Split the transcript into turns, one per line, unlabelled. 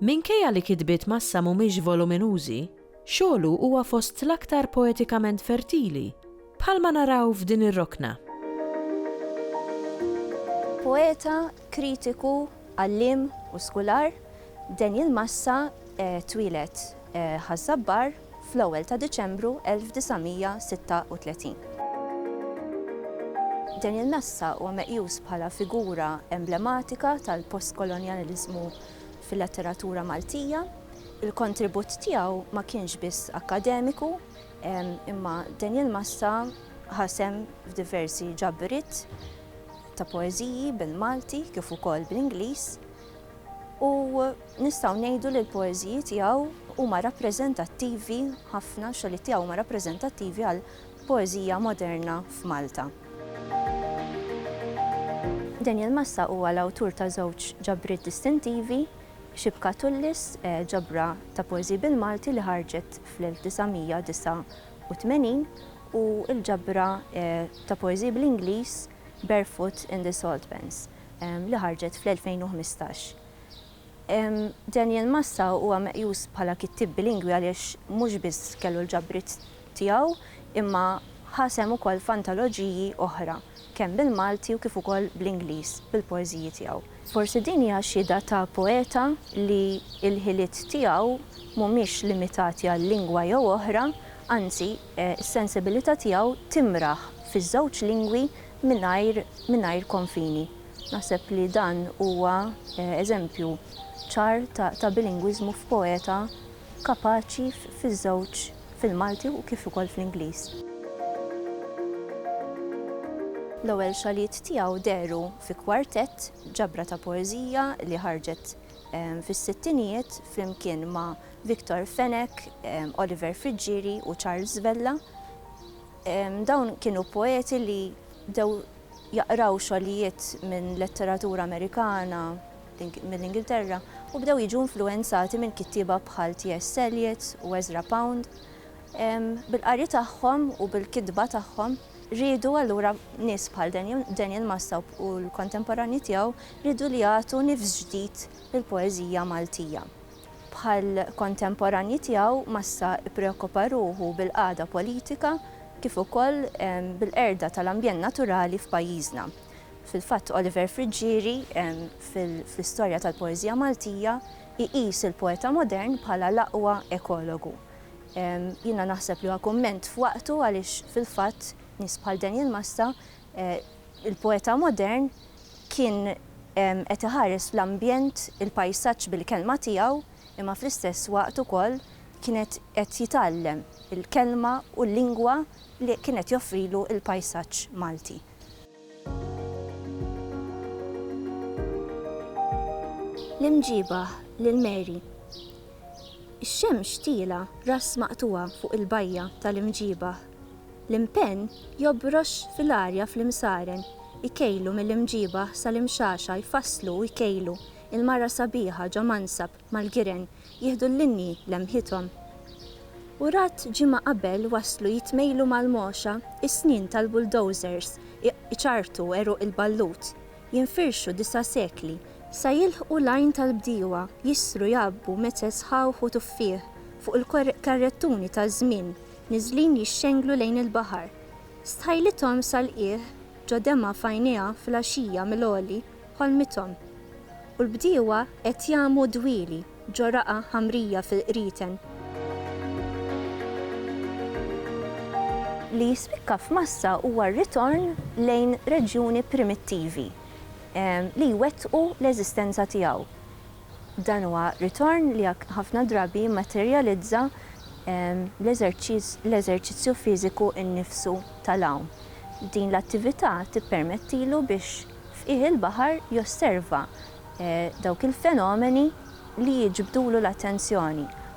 Minkejja li kitbiet Massa mhumiex voluminużi, xogħlu huwa fost l-aktar poetikament fertili, bħalma naraw f'din ir-rokna.
Poeta, kritiku, għalliem u skular, Daniel Massa twieled Ħaż-Żabbar fl-ewwel ta' Diċembru 1936. Daniel Massa huwa meqjus bħala figura emblematika tal-postkolonjaliżmu fil-letteratura Maltija. Il-kontribut tiegħu ma kienx biss akkademiku, imma Daniel Massa ħa sehem f'diversi ġabriet ta' poeżiji bil-Malti kif ukoll bl-Ingliż u nistgħu ngħidu li l-poeżiji tiegħu huma rappreżentattivi ħafna, x-xogħlijiet tiegħu huma rappreżentattivi għal Poeżija moderna f'Malta. Daniel Massa huwa l-awtur ta' żewġ ġabriet distintivi, Xibka Tullis, ġabra ta' poeżiji bil-Malti li ħarġet fl-1989, u l-ġabra ta' poeżiji bl-Ingliż Barefoot in the Saltpans, li ħarġet fl-2015. Daniel Massa huwa meqjus bħala kittieb bilingwi għaliex mhux biss kellu l-ġabriet tiegħu imma ħa sehem ukoll f'antoloġiji oħra, kemm bil-Malti u kif ukoll bl-Ingliż, bil-poeżiji tiegħu. Forsi din hija xhieda ta' poeta li l-ħiliet tiegħu mhumiex limitati għal lingwa jew oħra, anzi, s-sensibilità tiegħu timraħ fiż-żewġ lingwi mingħajr konfini. Naħseb li dan huwa eżempju ċar ta' bilingwiżmu f'poeta kapaċi fiż-żewġ, fil-Malti u kif ukoll fl-Ingliż. L-ewwel xogħlijiet tiegħu dehru fi kwartett, ġabra ta' poeżija li ħarġet fis-sittinijiet flimkien ma' Victor Fenech, Oliver Friggieri u Charles Vella. Dawn kienu poeti li bdew jaqraw xogħlijiet minn letteratura Amerikana, mill-Ingilterra, u bdew jiġu influwenzati minn kittieba bħal T.S. Eliot u Ezra Pound. Bil-qari tagħhom u bil-kitba tagħhom, riedu allura nies bħal Daniel Massab u l-kontemporanji tiegħu riedu li jagħtu nifs ġdid lill-poeżija Maltija. Bħall-kontemporanji tiegħu, Massa ppreokkupa ruħu bil-qagħda politika kif ukoll bil-qerda tal-ambjent naturali f'pajjiżna. Fil-fatt Oliver Friggieri, fl-Istorja tal-Poeżija Maltija, iqis il-poeta modern bħala l-aqwa ekologu. Jiena naħseb li huwa kumment f'waqtu għaliex fil-fatt nies bħal Daniel Massa, Il-poeta modern kien qed iħares l-ambjent, il-pajsaġġ bil-kelma tiegħu, imma fl-istess waqt ukoll kien qed jitgħallem il-kelma u l-lingwa li kien qed joffrilu l-pajsaġġ Malti. L-imġiebah lil Mary. Ix-xemx tiela' ras maqtugħa fuq il-bajja tal-imġiebah. L-impenn jobrox fil-arja fl-imsaren, ikejlu mill-imġiebah sal-imxaxa jfasslu u jkejlu, il-mara sabiħa ġo mansab mal-giren jieħdu l-linji lemħithom. Urat ġimgħa qabel waslu jitmejlu mal-mogħxa, is-snien tal-bulldozers iċarrtu għeruq il-ballut, jinfirxu disa' sekli, sa jilħqu l-għajn tal-bdiewa, jissru jgħabbu meċeż ħawħ u tuffieħ fuq il-karrettuni taż-żmien Niżlin jixxenglu lejn il-baħar. Stħajlithom sal-qiegħ ġo demgħa f'għajnejha fil-għaxija mill-għoli ħolmithom. U l-bdiewa qed jagħmu dwieli ġo raqgħa ħamrija fil-qrieten. Li jispikka f'massa huwa r-ritorn lejn reġjuni primittivi li jwettqu l-eżistenza tiegħu. Dan huwa ritorn li ħafna drabi jimmaterjalizza l-eżerċizzju fiżiku nnifsu tal-għawm. Din l-attività tippermettilu biex f'qiegħ il-baħar josserva dawk il-fenomeni li jiġbdulu l-attenzjoni